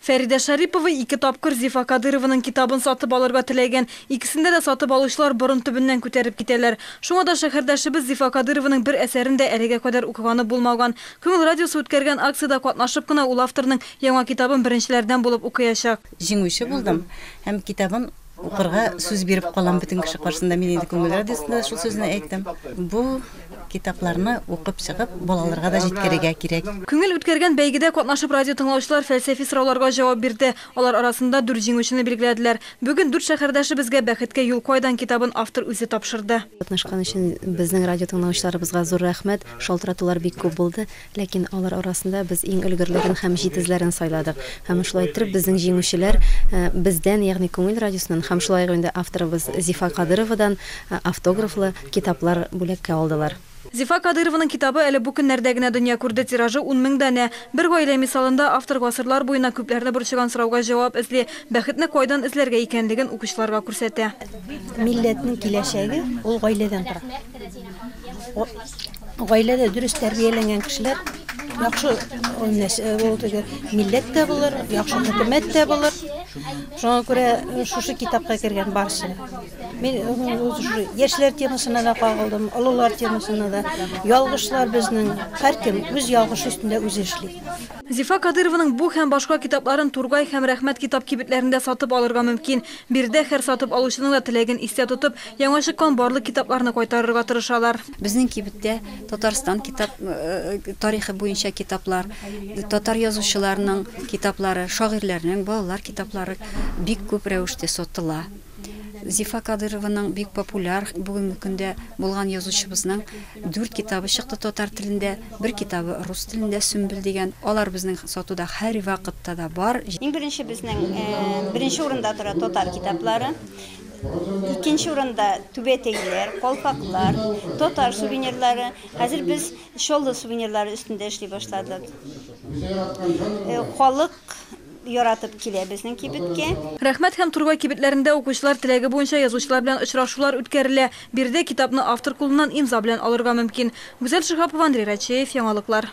Фәридә Шарипова ике тапкыр Зифа Кадырованың китабын сатып алырга теләгән. Икесендә дә сатып алучылар борын төбеннән күтәреп китәләр. Шуңа да шәһәрдәшебез Зифа Кадырованың бер әсәрен дә әлегә кадәр укыганы булмаган. Күңел радиосы үткәргән акциядә катнашып кына ул авторның яңа китабын беренчеләрдән булып укыячак. Җиңүче булдым һәм китабын Укырга сүз биреп калам бөтен кеше каршында, мин инде күңел радиосында да шул сүзне әйттем. Бу китапларны укып чыгып, балаларга да җиткерергә кирәк. Күңел үткәргән бәйгедә катнашып радиотыңлаучылар фәлсәфи сорауларга җавап бирде. Алар арасында дүрт җиңүчене билгеләделәр. Бүген дүрт шәһәрдәшебезгә Бәхеткә юл кайдан китабын автор үзе тапшырды. Катнашкан өчен безнең радиотыңлаучыларыбызга зур рәхмәт. Шалтыратулар бик күп булды. Ләкин алар арасында без иң өлгерләрен һәм җитезләрен сайладык. Һәм шулай иттереп безнең җиңүчеләр бездән, ягъни Күңел радиосыннан һәм шулай ук инде авторыбыз Зифа Кадыровадан автографлы китаплар бүләккә алдылар. Зифа Кадырованың китабы әле бу көннәрдә генә дөнья күрде, тиражы ун мең данә. Бер гаилә мисалында автор гасырлар буена күпләрне борчыган сорауга җавап эзли, бәхетне кайдан эзләргә икәнлеген укучыларга күрсәтә. Милләтнең киләчәге ул гаиләдән тора. Гаиләдә дөрес тәрбияләнгән кешеләр яхшы милләт тә булыр, яхшы хөкүмәт тә булыр. Шуңа күрә шушы китапка кергән барсы. Мин яшьләр темасына да кагылдым, олылар темасына да. Ялгышлар безнең, һәркем үз ялгышы өстендә үзе эшли. Зифа Кадырованың бу һәм башка китапларын Тургай һәм Рәхмәт китап кибетләрендә сатып алырга мөмкин. Биредә һәр сатып алучының да теләген истә тотып, Яңа чыккан барлык китапларны кайтарырга тырышалар. Безнең кибеттә Татарстан китап тарихы буенча китаплар, татар язучыларының китаплары, шагыйрьләрнең, балалар китаплары бик күп рәвештә сатыла. Зифа Кадырованың бик популяр бүгенге көндә булган язучыбызның дүрт китабы чыкты татар телендә, бер китабы рус телендә, Сөмбел дигән. Алар безнең сатуда һәрвакытта да бар. Иң беренче безнең беренче урында тора татар китаплары. Икенче урында түбәтәйләр, калфаклар, татар сувенирлары. Хәзер без чаллы сувенирлары өстендә эшли башладык. Халык яратып килә безнең кибеткә. Рәхмәт һәм Турбай кибетләрендә укучылар теләге буенча язучылар белән очрашулар үткәрелә. Биредә китапны автор кулыннан имза белән алырга мөмкин. Гүзәл Шиһапова, Андрей Рачеев, Яңалыклар.